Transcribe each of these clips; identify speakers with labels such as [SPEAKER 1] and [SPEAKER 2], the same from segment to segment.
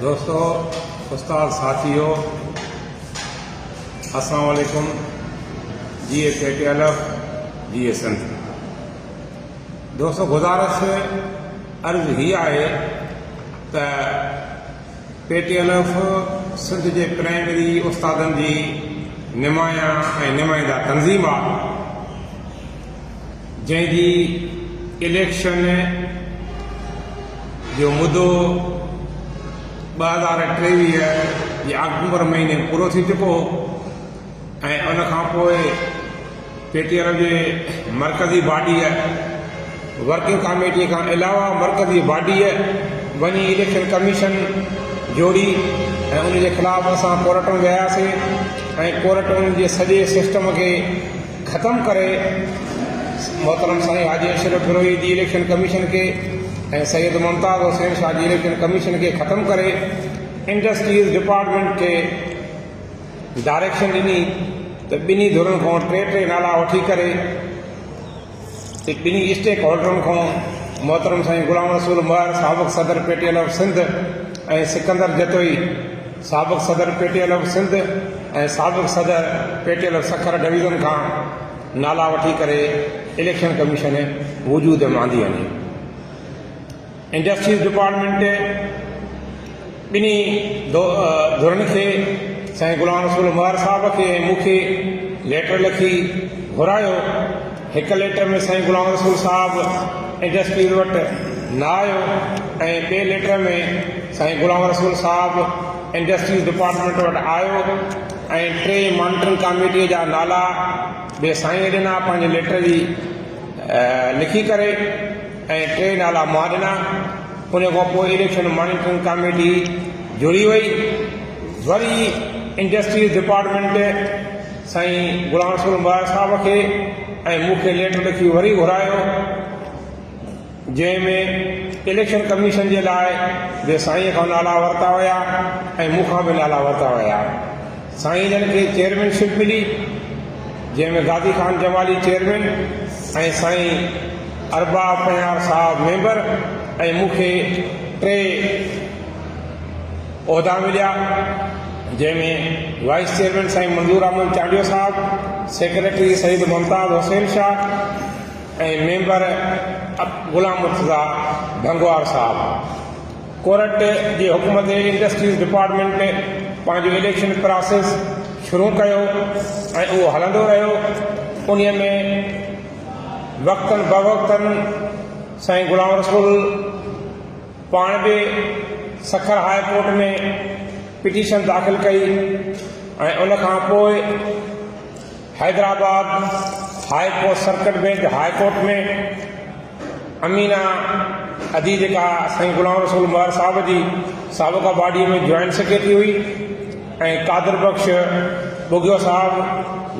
[SPEAKER 1] دوستو استاد ساٿيو السلام عليڪم جي A K T L F جي اي سنڌ دوستو گزارش عرض هي آهي ته P T L F Sindh جي پرائمري استادن جي نمايان ۽ نمائندا تنظيم آهي جنهن جي اليڪشن جو مدو ٻه هزار ٽيويهه جي آڪٽوبر مهيني پورو ٿي چڪو هو ۽ ان کان پوء پي ٽي آر جي مرڪزي باڊيء ورڪنگ ڪاميٽيء کان علاوه مرڪزي باڊيء وڃي اليڪشن ڪميشن جوڙي ۽ ان جي خلاف اسان ڪورٽ ۾ وياسين ۽ ڪورٽ ان جي سڄي سسٽم کي ختم ڪري محترم سائين حاجي اشرف بروهي جي اليڪشن ڪميشن کي ۽ سيد ممتاز حسين شاهه جي اليڪشن ڪميشن کي ختم ڪري انڊسٽريز ڊپارٽمينٽ کي ڊائريڪشن ڏني ته ٻنهي ڌرين کان ٽي ٽي نالا وٺي ڪري ته ٻنهي اسٽيڪ هولڊرن کان محترم سائين غلام رسول مهر سابق صدر P T L of Sindh ۽ Sikandar Jatoi سابق صدر P T L F Sindh ۽ سابق صدر P T L F Sukkur division کان نالا وٺي ڪري اليڪشن ڪميشن وجود ۾ آندي آهي انڊسٽريز ڊپارٽمينٽ ٻنهي ڌرن کي سائين غلام رسول مهر صاحب کي مون کي ليٽر لکي گهرايو هڪ ليٽر ۾ سائين غلام رسول صاحب انڊسٽريز وٽ نه آيو ۽ ٻئي ليٽر ۾ سائين غلام رسول صاحب انڊسٽريز ڊپارٽمينٽ وٽ آيو ۽ ٽي مانيٽرنگ ڪاميٽيء جا نالا به سائينء ڏنا پنهنجي ليٽر جي لکي ڪري ۽ ٽي نالا مان ڏنا ان کان پوء اليڪشن مانيٽرنگ ڪاميٽي جڙي وئي وري انڊسٽريز ڊپارٽمينٽ سائين غلام رسول مراج صاحب کي ۽ مون کي ليٽر لکي وري گهرايو جنهن ۾ اليڪشن ڪميشن جي لاء به سائين کان نالا ورتا ويا ۽ مون کان به نالا ورتا ويا سائين جن کي چيئرمين شپ ملي جنهن ۾ غازي خان جمالي چيئرمين ۽ سائين اربا پنهيار صاحب ميمبر ۽ مون کي ٽي عهدا مليا جنهن ۾ وائيس چيئرمين سائين منظور Ahmed Chandio sahib, secretary Syed Mumtaz Hussain Shah ۽ member Ghulam Murtaza Bhangwar sahib court جي حڪم تي انڊسٽريز ڊپارٽمينٽ پنهنجو اليڪشن پراسيس شروع ڪيو ۽ اهو هلندو رهيو انهي ۾ وقتن بوقتن سائين غلام رسول پاڻ به سکر هاء ڪورٽ ۾ پٽيشن داخل ڪئي ۽ ان کان پوء Hyderabad high court circuit bench high court ۾ Amina ادي جيڪا سائين غلام رسول مهر صاحب جي سابقه باڊي ۾ جوائنٽ سيڪريٽري هئي ۽ قادر بخش ٻگهيو صاحب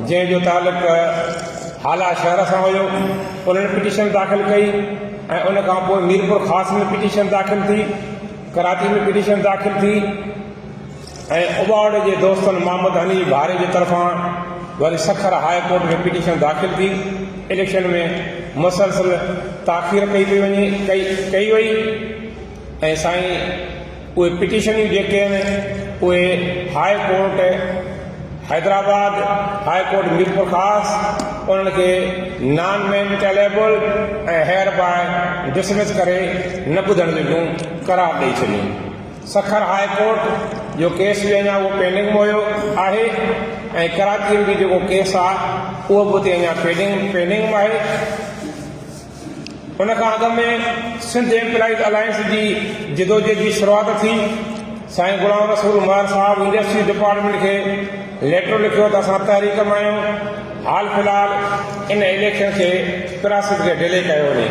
[SPEAKER 1] جنهن جو تعلق هالا شهر سان هيو انهن پٽيشن داخل ڪئي ۽ ان کان پوء ميرپور خاص ۾ پٽيشن داخل ٿي ڪراچي ۾ پٽيشن داخل ٿي ۽ اباوڙي جي دوستن محمد حنيف ڀاري جي طرفان وري سکر هاء ڪورٽ ۾ پٽيشن داخل ٿي اليڪشن ۾ مسلسل تاخير ڪئي پئي وڃي ڪئي ڪئي وئي ۽ سائين اهي پٽيشنيون جيڪي آهن اهي high court Hyderabad high court Mirpur Khas انهن کي نان مينٽيليبل ۽ هيئر باء ڊسمس ڪري نه ٻڌڻ جوڳيون قرار ڏئي ڇڏيون سکر هاء ڪورٽ جو ڪيس به اڃا اهو پينڊنگ ۾ هيو آهي ۽ ڪراچي ۾ به جيڪو ڪيس آهي اهو به اتي اڃا پينڊنگ پينڊنگ ۾ آهي ان کان اڳ ۾ سنڌ ايمپلائيز الائنس جي جدوجهد جي شروعات ٿي. سائين غلام رسول مهر صاحب انڊسٽريز ڊپارٽمينٽ کي ليٽر لکيو ته اسان تحريڪ مان آهيون، حال في الحال ان اليڪشن کي پراسيس کي ڊلي ڪيو وڃي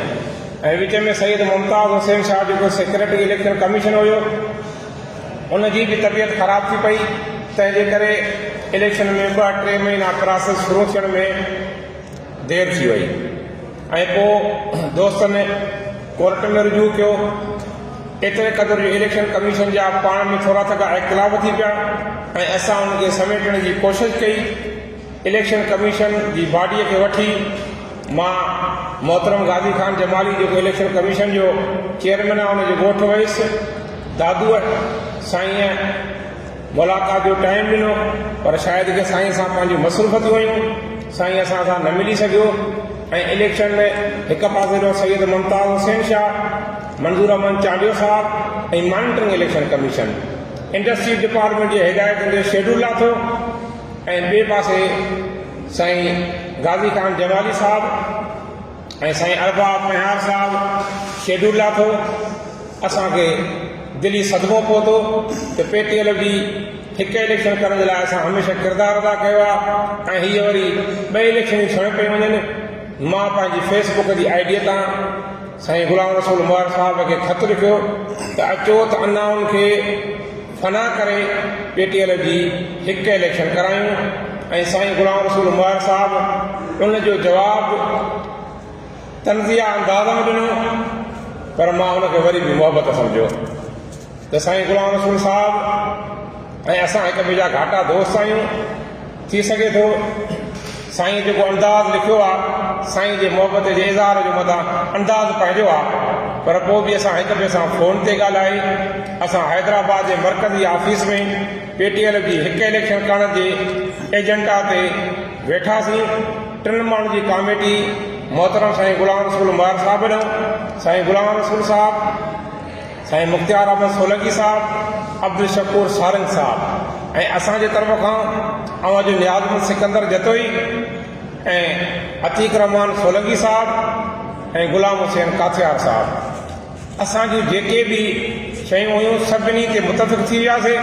[SPEAKER 1] ۽ وچ ۾ سيد ممتاز حسين شاهه جيڪو سيڪريٽري اليڪشن ڪميشن هيو ان جي به طبيعت خراب ٿي پئي تنهن جي ڪري اليڪشن ۾ ٻه ٽي مهينا پراسيس شروع ٿيڻ ۾ دير ٿي وئي ۽ پوء دوستن ڪورٽ ۾ رجوع ڪيو. ايتري قدر جو اليڪشن ڪميشن جا پاڻ ۾ ٿورا ٿڪا اختلاف ٿي پيا ۽ اسان ان کي سميٽڻ جي ڪوشش ڪئي. اليڪشن ڪميشن جي باڊيء کي وٺي مان محترم غازي خان جمالي جيڪو اليڪشن ڪميشن جو چيئرمين آهي ان جي ڳوٺ ويس. دادوء سائينء! ملاقات جو ٽائيم ڏنو پر شايد ڪي سائين سان پنهنجون مصروفتيون هيون سائين اسان سان نه ملي سگهيو ۽ اليڪشن ۾ هڪ پاسي ڏانهن سيد ممتاز حسين شاهه منظور احمد چانڊيو صاحب ۽ monitoring election commission industries department جي هدايتن جو شيڊول لاٿو ۽ ٻئي پاسي سائين غازي خان جمالي صاحب ۽ سائين ارباب مهيار صاحب شيڊول لاٿو اسان کي دلي صدمو پهتو ته پي ٽي ايل جي هڪ اليڪشن ڪرڻ جي لاء اسان هميشه ڪردار ادا ڪيو آ ۽ هي وري ٻه اليڪشنيون سڻ پئي وڃن مان پنهنجي فيس بڪ جي آئي ڊي تان سائين غلام رسول مهر صاحب کي خط لکيو ته اچو ته انائن کي فنا ڪري پي ٽي ايل جي هڪ اليڪشن ڪرايون ۽ سائين غلام رسول مهر صاحب ان جو جواب طنزيه انداز ۾ ڏنو پر مان ان کي وري به محبت سمجهيو ته سائين غلام رسول صاحب ۽ اسان هڪ ٻئي جا گهاٽا دوست آهيون ٿي سگهي ٿو سائين جيڪو انداز لکيو آ سائين جي محبت جي اظهار جو مدان انداز پنهنجو آ پر پو به اسان هڪ ٻئي سان فون تي ڳالهائي اسان حيدرآباد جي مرڪزي آفيس ۾ پي ٽي ايل جي هڪ اليڪشن ڪرڻ جي ايجنڊا تي ويٺاسين ٽن ماڻهن جي ڪاميٽي محترم سائين غلام رسول مهر صاحب ڏنو سائين غلام رسول صاحب سائين مختيار احمد سولنگي صاحب، عبدالشڪور سارنگ صاحب ۽ اسان جي طرف کان اوهان جو نيازمند سڪندر جتوئي ۽ عتيق الرحمان سولنگي صاحب ۽ غلام حسين ڪاٿيار صاحب اسان جون جيڪي به شيون هيون سڀني تي متفق ٿي وياسين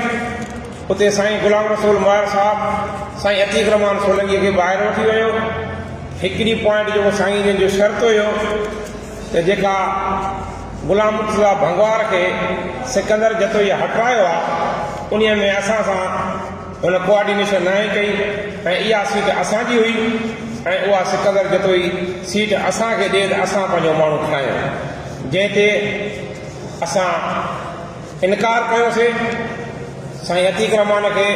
[SPEAKER 1] اتي سائين غلام رسول مهر صاحب سائين عتيق الرحمان سولنگي کي ٻاهر وٺي ويو هڪڙي پوائنٽ جيڪو سائين جن جو شرط هيو ته جيڪا غلام مرتضيٰ ڀنگوار کي سڪندر جتوئيء هٽرايو آ، انهيء ۾ اسان سان هن ڪوآرڊينيشن ناهي ڪئي ۽ اها سيٽ اسان جي هئي ۽ اها سڪندر جتوئي سيٽ اسان کي ڏي ته اسان پنهنجو ماڻهو کڻايون، جنهن تي اسان انڪار ڪيو سي، سائين عتيق رحمان کي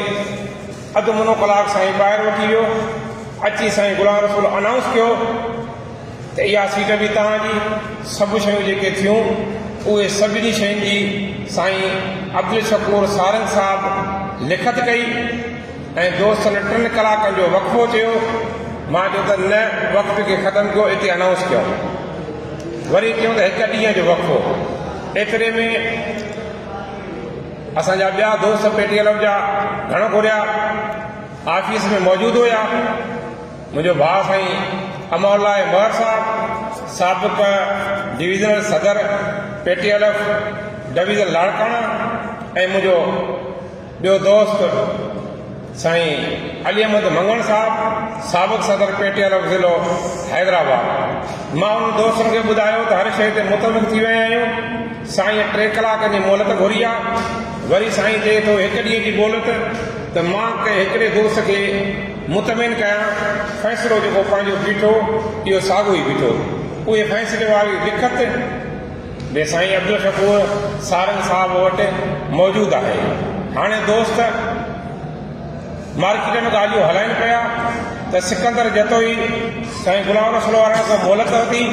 [SPEAKER 1] اڌ منو ڪلاڪ سائين ٻاهر وٺي ويو، اچي سائين غلام رسول انائونس ڪيو. ته اها سيٽ به توهان جي، سڀ شيون جيڪي ٿيون اهي سڀني شين جي سائين عبدالشڪور سارنگ صاحب لکت ڪئي ۽ دوستن ٽن ڪلاڪن جو وقفو چيو مان چيو ته نه وقفي کي ختم ڪيو اتي انائونس ڪيو وري چيو ته هڪ ڏينهن جو وقفو ايتري ۾ اسان جا ٻيا دوست پيٽي ڪلب جا گهڻو گهريا آفيس ۾ موجود هيا منهنجو ڀاء سائين امان الله مهر صاحب سابق ڊويزنل صدر P T L F division Larkana ۽ منهنجو ٻيو دوست سائين علي احمد مڱڻ صاحب سابق صدر پي ٽي ايل ايف ضلعو حيدرآباد مان انهن دوستن کي ٻڌايو ته هر شيء تي متفق ٿي ويا آهيون سائين ٽي ڪلاڪن جي مهلت گهري آهي وري سائين چئي ٿو هڪ ڏينهن جي مهلت ته مان ڪنهن هڪڙي دوست کي مطمئن ڪيان، فيصلو جيڪو پنهنجو بيٺو، اهو ساڳيو ئي بيٺو. اهي فيصلي واري لکت به سائين عبدالشڪور سارنگ صاحب وٽ موجود آهي. هاڻي دوست مارڪيٽ ۾ ڳالهيون هلائين پيا ته سڪندر جتوئي سائين غلام رسول وارن کان مهلت ورتي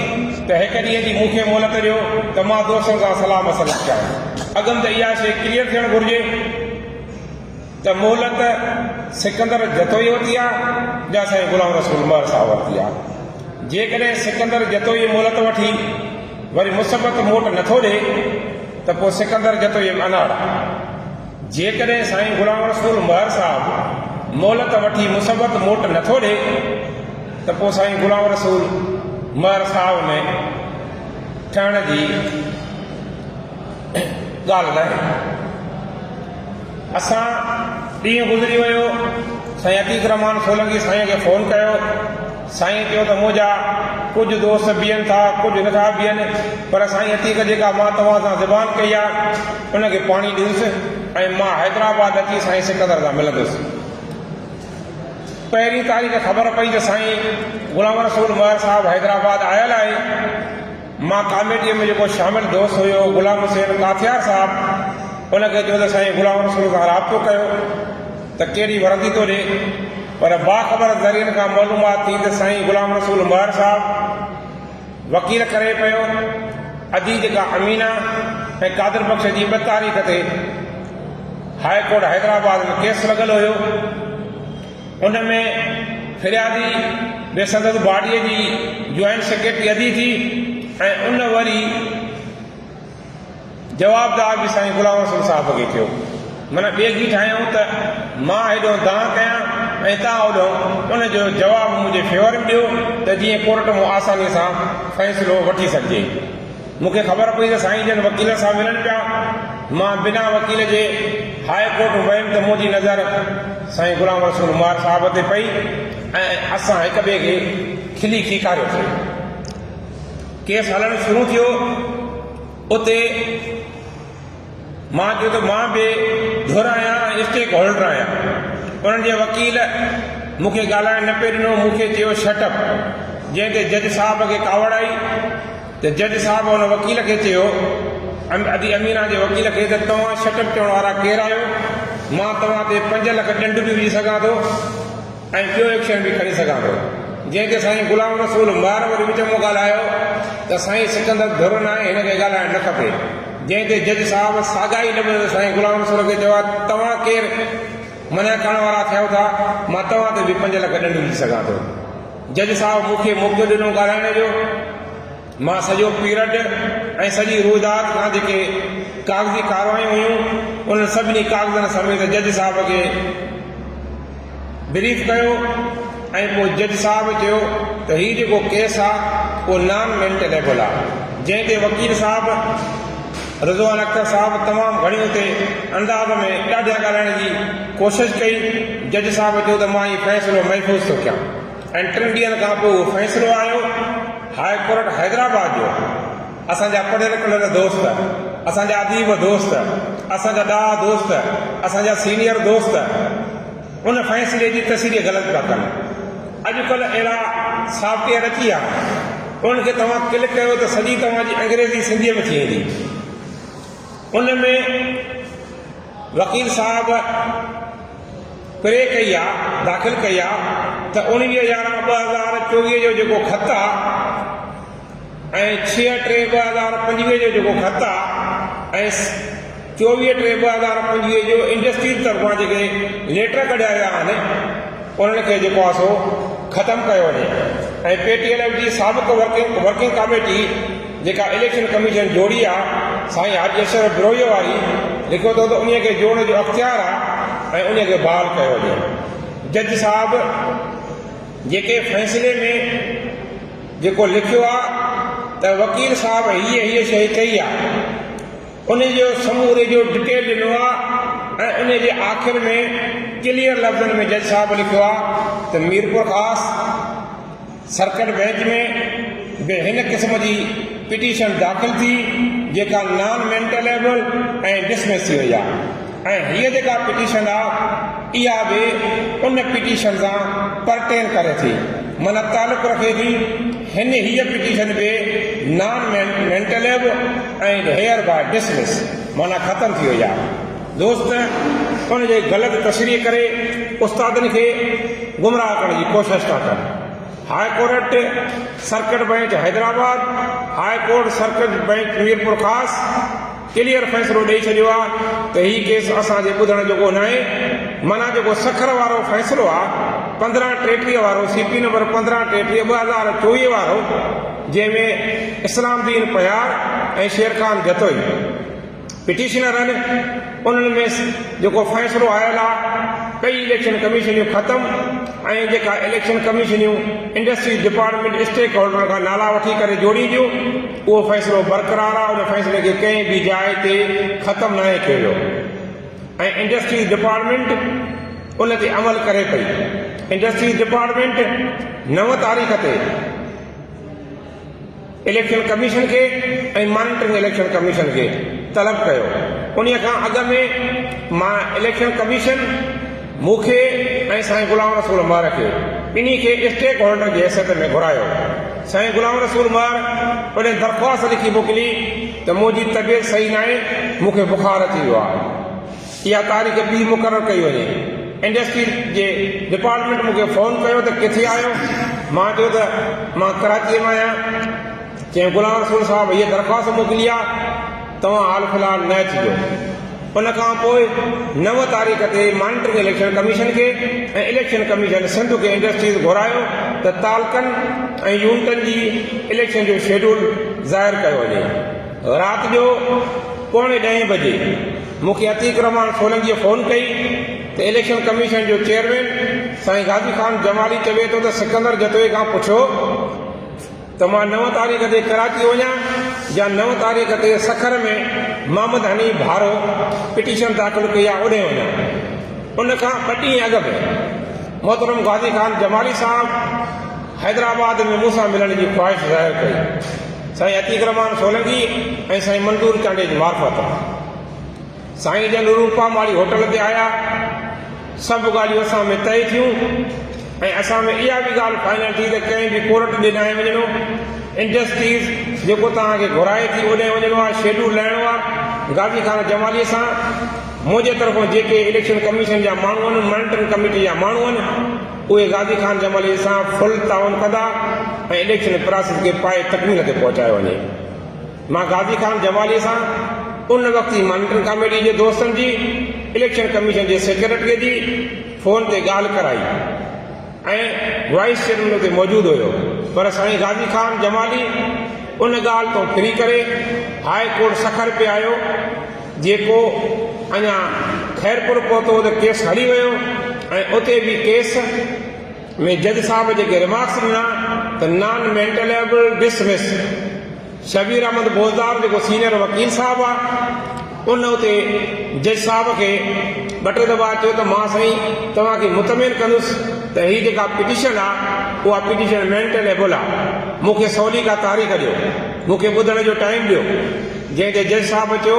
[SPEAKER 1] ته هڪ ڏينهن جي مون کي مهلت ڏيو ته مان دوستن سان صلاح مشورو ڪيان. اڳم ته اها شيء ڪليئر ٿيڻ گهرجي. ته مهلت سڪندر جتوئي وٽ يا جا سائين غلام رسول مهر صاحب وٽ ٿي آ. جيڪڏهن سڪندر جتوئي مهلت وٺي وري مثبت موٽ نه ٿو ڏي ته پوء سڪندر جتوئي به اناڙ آ. جيڪڏهن سائين غلام رسول مهر صاحب مهلت وٺي مثبت موٽ نه ٿو ڏي ته پوء سائين غلام رسول مهر صاحب ۾ ٺهڻ جي ڳالهه ناهي. اسان ڏينهن گذري ويو سائين عتيق الرحمان سولنگي سائين کي فون ڪيو سائين چيو ته منهنجا ڪجهه دوست بيهن ٿا ڪجهه نٿا بيهن پر سائين عتيق جيڪا مان توهان سان زبان ڪئي آ ان کي پاڻي ڏيس ۽ مان حيدرآباد اچي سائين سڪندر سان ملندس پهرين تاريخ خبر پئي ته سائين غلام رسول مهر صاحب حيدرآباد آيل آهي مان ڪاميٽيء ۾ جيڪو شامل دوست هيو غلام حسين ڪاٿيار صاحب ان کي چيو ته سائين غلام رسول سان رابطو ڪيو ته ڪهڙي وردي ٿو ڏي پر باخبر ذريعن کان معلومات ٿي ته سائين غلام رسول مهر صاحب وڪيل ڪري پيو ادي جيڪا امينا ۽ قادر بخش جي ٻه تاريخ تي هاء ڪورٽ حيدرآباد ۾ ڪيس لڳل هيو. ان ۾ فريادي به سندس باڊيء جي جوائنٽ سيڪريٽري ادي ٿي ۽ ان وري جوابدار به سائين غلام حسن صاحب کي ٿيو. من ٻئي جي ٺاهيائون ته مان هيڏهون دانهن ڪيان ۽ توهان هوڏهون ان جو جواب منهنجي فيور ۾ ڏيو ته جيئن ڪورٽ مون آسانيء سان فيصلو وٺي سگهجي. مون کي خبر پئي ته سائين جن وڪيل سان ملن پيا. مان بنا وڪيل جي هاء ڪورٽ ويم ته منهنجي نظر سائين غلام رسول مار صاحب تي پئي ۽ اسان هڪ ٻئي کي کلي کيڪاريوسين. ڪيس هلڻ شروع ٿيو. اتي مان چيو ته مان بي ڌر آهيان ۽ اسٽيڪ هولڊر آهيان. انهن جي وڪيل مون کي ڳالهائڻ نه پئي ڏنو، مون کي چيو شٽ اپ، جنهن تي جج صاحب کي ڪاوڙ آئي ته جج صاحب ان وڪيل کي چيو، ادي امينا جي وڪيل کي ته توهان شٽ اپ چوڻ وارا ڪير آهيو؟ مان توهان تي پنج لک ڏنڊ به وجهي سگهان ٿو. ۽ ٻيو ايڪشن به کڻي سگهان ٿو جنهن تي سائين غلام رسول مار وري وچ مان ڳالهايو ته سائين سڪندر ڌر ناهي هن کي ڳالهائڻ نه کپي جنهن تي جج صاحب ساڳا ئي لفظ سائين غلام رسول کي چيو آهي توهان ڪير منع ڪرڻ وارا ٿيو ٿا مان توهان تي به پنج لک ڏنڊ وجهي سگهان ٿو جج صاحب مون کي موقعو ڏنو ڳالهائڻ جو مان سڄو پيرڊ ۽ سڄي روئداد کان جيڪي ڪاغذي ڪاروايون هيون انهن سڀني ڪاغذن سميت جج صاحب کي بريف ڪيو ۽ پوء جج صاحب چيو ته هي جيڪو ڪيس آ اهو نان مينٽينيبل آ جنهن تي وڪيل صاحب رضوان اختر صاحب تمام گهڻي اتي انداز ۾ ڏاڍيان ڳالهائڻ جي ڪوشش ڪئي جج صاحب چيو ته مان هي فيصلو محفوظ ٿو ڪيان. ۽ ٽن ڏينهن کان پوء اهو فيصلو آيو هاء ڪورٽ حيدرآباد جو اسان جا پڙهيل ڪڙهيل دوست اسان جا اديب دوست اسان جا ڏاها دوست اسان جا سينيئر دوست ان فيصلي جي تشريح غلط پيا ڪن اڄ ڪلهه اهڙا سافٽ ويئر اچي ويا انهن کي توهان ڪلڪ ڪيو ته سڄي توهان جي انگريزي سنڌي ۾ ٿي ويندي ان ۾ وڪيل صاحب پري ڪئي آ داخل ڪئي آ ته اوڻويهه يارهن ٻه هزار چوويهه جو جيڪو خط آ ۽ ڇهه ٽي ٻه هزار پنجويهه جو جيڪو خط آ ۽ چوويهه ٽي ٻه هزار پنجويهه جو انڊسٽريز طرفان جيڪي ليٽر ڪڍيا ويا آهن انهن کي جيڪو آ سو ختم ڪيو وڃي ۽ پي ٽي ايل ايف جي سابق ورڪنگ ڪاميٽي جيڪا اليڪشن ڪميشن جوڙي آ سائين حاجي اشرف بروهيء واري لکيو ٿو ته انهيء کي جوڙڻ جو اختيار آ ۽ انهيء کي بحال ڪيو وڃي جج صاحب جيڪي فيصلي ۾ جيڪو لکيو آ ته وڪيل صاحب هيء هيء شيء ڪئي آ انهيء جو سموري جو ڊٽيل ڏنو آ ۽ انهيء جي آخر ۾ ڪليئر لفظن ۾ جج صاحب لکيو آ ته ميرپورخاص سرڪٽ بئنچ ۾ به هن قسم جي پٽيشن داخل ٿي جيڪا نان مينٽليبل ۽ ڊسمس ٿي وئي آهي ۽ هيء جيڪا پٽيشن آهي اها به ان پٽيشن سان پرٽين ڪري ٿي معنيٰ تعلق رکي ٿي هن هيء پٽيشن به نان مينٽليبل ۽ هيئر باء ڊسمس معنيٰ ختم ٿي وئي آهي. دوست ان جي غلط تشريح ڪري استادن کي گمراهه ڪرڻ جي ڪوشش ٿا ڪن. High court circuit bench Hyderabad, high court circuit bench Mirpur Khas clear فيصلو ڏئي ڇڏيو آ ته هي ڪيس اسان جي ٻڌڻ جوڳو ناهي معنيٰ جيڪو سکر وارو فيصلو آ پندرهن ٽيٽيهه وارو سي پي نمبر پندرهن ٽيٽيهه ٻه هزار چوويهه وارو جنهن ۾ اسلام دين پهيار ۽ شيرخان جتوئي پٽيشنرن انهن ۾ جيڪو فيصلو آيل آ ڪئي اليڪشن ڪميشنيون ختم ۽ جيڪا اليڪشن ڪميشنيون انڊسٽريز ڊپارٽمينٽ اسٽيڪ هولڊرن کان نالا وٺي ڪري جوڙينديون اهو فيصلو برقرار آ ان فيصلي کي ڪنهن به جاء تي ختم ناهي ڪيو ويو ۽ انڊسٽريز ڊپارٽمينٽ ان تي عمل ڪري پئي انڊسٽريز ڊپارٽمينٽ نو تاريخ تي اليڪشن ڪميشن کي ۽ مانيٽرنگ اليڪشن ڪميشن کي طلب ڪيو، انهي کان اڳ ۾ مان اليڪشن ڪميشن مون کي ۽ سائين غلام رسول مهر کي ٻنهي کي اسٽيڪ هولڊر جي حيثيت ۾ گهرايو، سائين غلام رسول مهر پڻهين درخواست لکي موڪلي ته منهنجي طبيعت صحيح ناهي، مون کي بخار اچي ويو آهي. اها تاريخ ٻي مقرر ڪئي وڃي. انڊسٽري جي ڊپارٽمينٽ مون کي فون ڪيو ته ڪٿي آهيو؟ مان چيو ته مان ڪراچيء ۾ آهيان. چيائين غلام رسول صاحب هيء درخواست موڪلي آهي، توهان حال في الحال نه اچجو. ان کان پوء نو تاريخ تي مانيٽرنگ اليڪشن ڪميشن کي ۽ اليڪشن ڪميشن سنڌ کي انڊسٽريز گهرايو ته تعلقن ۽ يونٽن جي اليڪشن جو شيڊول ظاهر ڪيو وڃي. رات جو پوڻي ڏهين بجي. مون کي عتيق الرحمان سولنگيء فون ڪئي ته اليڪشن ڪميشن جو چيئرمين سائين غازي خان جمالي چوي ٿو ته سڪندر جتوئي کان پڇو ته مان نو تاريخ تي ڪراچي وڃان يا نو تاريخ تي سکر ۾ محمد حنيف ڀارو پٽيشن داخل ڪئي آهي اوڏهين وڃان ان کان ٻه ڏينهن اڳ به محترم غازي خان جمالي صاحب حيدرآباد ۾ مون سان ملڻ جي خواهش ظاهر ڪئي. سائين عتيق الرحمان سولنگي ۽ سائين منظور چانڊيجي معرفت سائين جن روپا ماڙي هوٽل تي آيا. سڀ ڳالهيون اسان ۾ طئي ٿيون ۽ اسان ۾ اها به ڳالهه فائنل ٿي ته ڪنهن به ڪورٽ ڏي ناهي وڃڻو. انڊسٽريز جيڪو توهان کي گهرائي ٿي اوڏانهن وڃڻو آهي، شيڊول لهڻو آهي. غازي خان جمالي سان منهنجي طرفان جيڪي اليڪشن ڪميشن جا ماڻهو آهن، مانيٽرنگ ڪميٽي جا ماڻهو آهن، اهي غازي خان جمالي سان فل تعاون ڪندا ۽ اليڪشن پراسيس کي پائي تڪميل تي پهچايو وڃي. مان غازي خان جمالي سان ان وقت جي مانيٽرنگ ڪاميٽي جي دوستن جي اليڪشن ڪميشن جي سيڪريٽري جي فون تي ڳالهه ڪرائي ۽ وائيس چيئرمين اتي موجود هيو پر سائين غازي خان جمالي ان ڳالهه تون ڦري ڪري هاء ڪورٽ سکر پئي آيو جيڪو اڃا خيرپور پهتو ته ڪيس هلي ويو ۽ اتي به ڪيس ۾ جج صاحب جيڪي ريمارڪس ڏنا ته non maintainable dismiss Shabbir Ahmed Bozdar جيڪو سينيئر وڪيل صاحب آ ان اتي جج صاحب کي ٻه ٽي دفعا چيو ته مان سائين توهان کي مطمئن ڪندس ته هي جيڪا پٽيشن آ اها پٽيشن مينٽل ايبل آ مون کي سولي ڪا تاريخ ڏيو مون کي ٻڌڻ جو ٽائيم ڏيو. جنهن تي جج صاحب چيو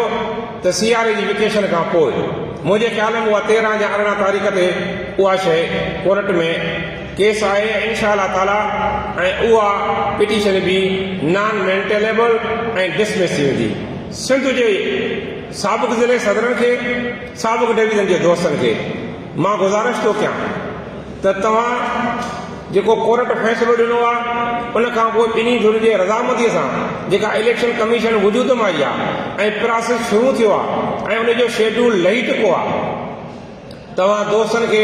[SPEAKER 1] ته سياري جي ويڪيشن کان پوء. منهنجي خيال ۾ اها تيرهن يا ارڙهن تاريخ تي اها شيء ڪورٽ ۾ ڪيس آهي ۽ انشاء الله تعاليٰ ۽ اها پٽيشن به نان مينٽيليبل ۽ ڊسمس ٿي ويندي. سنڌ جي سابق ضلعي صدرن کي، سابق ڊويزن جي دوستن کي. مان گذارش ٿو ڪيان ته توهان جيڪو ڪورٽ فيصلو ڏنو آ ان کان پوء ٻنهي ڌرين جي رضامنديء سان جيڪا اليڪشن ڪميشن وجود ۾ آئي آ ۽ پراسيس شروع ٿيو آ ۽ ان جو شيڊول لهي چڪو آ توهان دوستن کي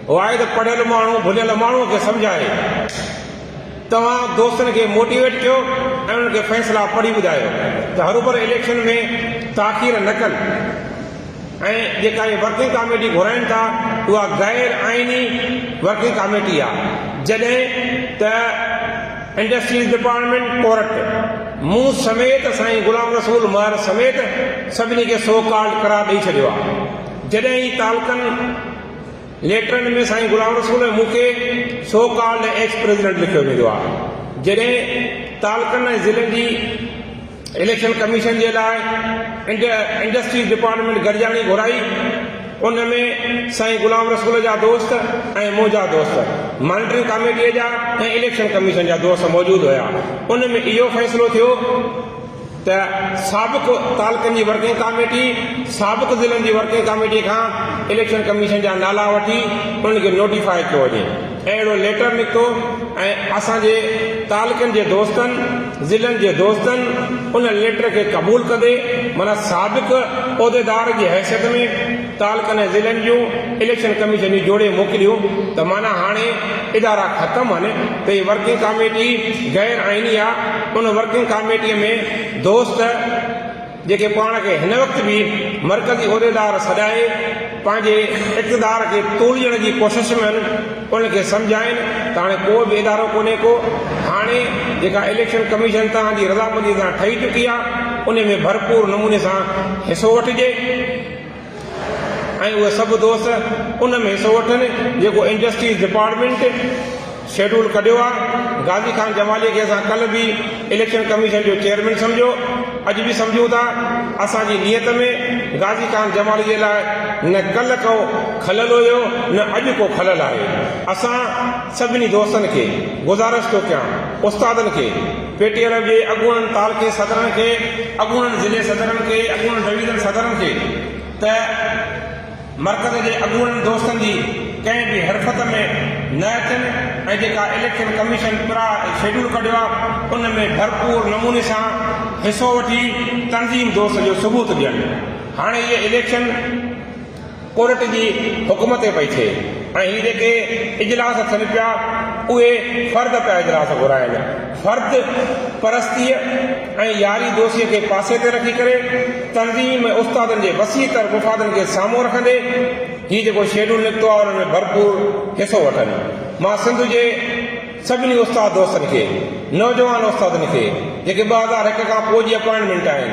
[SPEAKER 1] واحد پڙهيل ماڻهو ڀڃل ماڻهو کي سمجهائي توهان دوستن کي موٽيويٽ ڪيو ۽ انهن کي فيصلا پڙهي ٻڌايو ته هروڀرو اليڪشن ۾ تاخير نه ڪن ۽ جيڪا اهي ورڪنگ ڪاميٽي گهرائين ٿا اها غير آئيني ورڪنگ ڪاميٽي آ جڏهن ته انڊسٽريز ڊپارٽمينٽ ڪورٽ مون سميت سائين غلام رسول مهر سميت سڀني کي سو ڪالڊ قرار ڏئي ڇڏيو آ جڏهن هي تعلقن ليٽرن ۾ سائين غلام رسول ۽ مون کي سو ڪالڊ ايڪس پريزيڊنٽ لکيو ويندو آ جڏهن تعلقن ۽ ضلعن جي اليڪشن ڪميشن جي لاء انڊسٽريز ڊپارٽمينٽ گڏجاڻي گهرائي، ان ۾ سائين غلام رسول جا دوست ۽ منهنجا دوست، مانيٽرنگ ڪاميٽيء جا ۽ اليڪشن ڪميشن جا دوست موجود هيا، ان ۾ اهو فيصلو ٿيو ته سابق تعلقن جي ورڪنگ ڪاميٽي، سابق ضلعن جي ورڪنگ ڪاميٽي کان اليڪشن ڪميشن جا نالا وٺي انهن کي نوٽيفاء ڪيو وڃي. اهڙو ليٽر نڪتو ۽ اسان جي تعلقن جي دوستن، ضلعن جي دوستن ان ليٽر کي قبول ڪندي معنيٰ سابق عهديدار جي حيثيت ۾ تعلقن ۽ ضلعن جون اليڪشن ڪميشنيون جوڙي موڪليون ته معنيٰ هاڻي ادارا ختم هن ته هي ورڪنگ ڪاميٽي غير آئيني آ ان ورڪنگ ڪاميٽي ۾ دوست جيڪي پاڻ کي هن وقت به مرڪزي عهديدار سڏائي پنهنجي اقتدار کي توليڻ جي ڪوشش ۾ آهن ان کي سمجهائين ته هاڻي ڪو به ادارو ڪونهي ڪو هاڻي جيڪا اليڪشن ڪميشن توهان جي رضامندي سان ٺهي چڪي آهي ان ۾ ڀرپور نموني سان حصو وٺجي. ۽ اهي سڀ دوست ان ۾ حصو وٺن جيڪو انڊسٽريز ڊپارٽمينٽ شيڊول ڪڍيو آ، غازي خان جمالي کي اسان ڪلهه به اليڪشن ڪميشن جو چيئرمين سمجهيو اڄ به سمجهون ٿا، اسان جي نيت ۾ غازي خان جمالي جي لاء نه ڪلهه ڪو کلل هيو نه اڄ ڪو کلل آهي، اسان سڀني دوستن کي گذارش ٿو ڪيان استادن کي. پي ٽي ايل جي اڳوڻن تعلقي صدرن کي، اڳوڻن ضلعي صدرن کي، اڳوڻن ڊويزن صدرن کي ته مرڪز جي اڳوڻن دوستن جي ڪنهن به حرفت ۾ نه اچن ۽ جيڪا اليڪشن ڪميشن پرا شيڊول ڪڍيو آ ان ۾ ڀرپور نموني سان حصو وٺي تنظيم دوست جو ثبوت ڏين هاڻي اهي اليڪشن ڪورٽ جي حڪم تي پئي ٿئي ۽ هي جيڪي اجلاس ٿين پيا اهي فرد پيا اجلاس گهرائن فرد پرستيء ۽ ياري دوستيء کي پاسي تي رکي ڪري تنظيم ۽ استادن جي وسيع تر مفادن کي سامهون رکندي هي جيڪو شيڊول نڪتو آهي ان ۾ ڀرپور حصو وٺن مان سنڌ جي سڀني استاد دوستن کي، نوجوان استادن کي جيڪي ٻه هزار هڪ کان پوء جي اپائنٽمينٽ آهن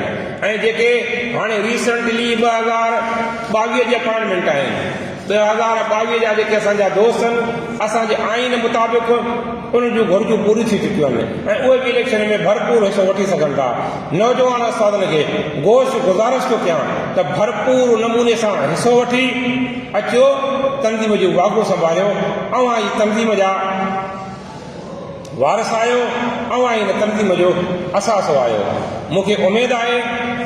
[SPEAKER 1] ۽ جيڪي هاڻي ريسينٽلي ٻه هزار ٻاويهه جي اپائنٽمينٽ آهن، ٻه هزار ٻاويهه جا جيڪي اسان جا دوست آهن، اسان جي آئين مطابق انهن جون گهرجون پوريون ٿي چڪيون آهن ۽ اهي به اليڪشن ۾ ڀرپور حصو وٺي سگهن ٿا، نوجوان استادن کي گوش گذارش ٿو ڪيان ته ڀرپور نموني سان حصو وٺي. اچو تنظيم جو واڳو سنڀاليو، اوهان ئي تنظيم جا وارث آهيو، اوهان ئي هن تنظيم جو اثاثو آهيو، مون کي اميد آهي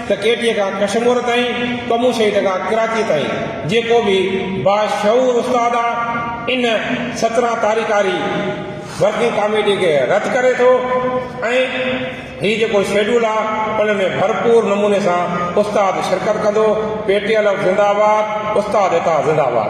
[SPEAKER 1] ته ڪيٽيء کان ڪشمور تائين، ڪمون شهيد کان ڪراچيء تائين جيڪو به باشعور استاد آ ان سترهن تاريخاري ورڪنگ ڪاميٽيء کي رد ڪري ٿو ۽ هي جيڪو شيڊول آ ان ۾ ڀرپور نموني سان استاد شرڪت ڪندو پي ٽي ايل ايف زنده آباد استاد عطا زنده آباد.